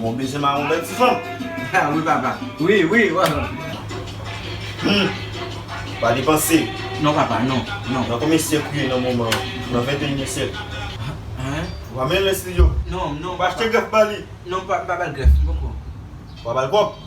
Bon bese maron bel ti fanm. Ha wi papa wi wi ooh. Humm pa depanse. Non papa non non. Nan konbyen syèk ou ye nan moman an? Nan 21 nye syèk. Hein? Ou pa menm Lesly yo? Non non papa. Ou pa achte grèf ba li? Non m pa bal grèf m poko. Ou pa bal pòp?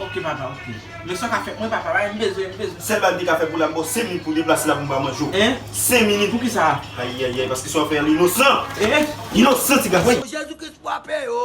Ok papa ok. Men sa w ka fè pou mwen papa bagay m bezwen m bezwen. Sèl bagay m te ka fè pou la m ba w 5 minit pou w deplase la pou m ba w manje w. Hein? 5 minit. Pou kisa? Ayayayay paske sa w ap fè a li inosan. Hein? Inosan ti gason. Pou Jezi Kris fwape yo.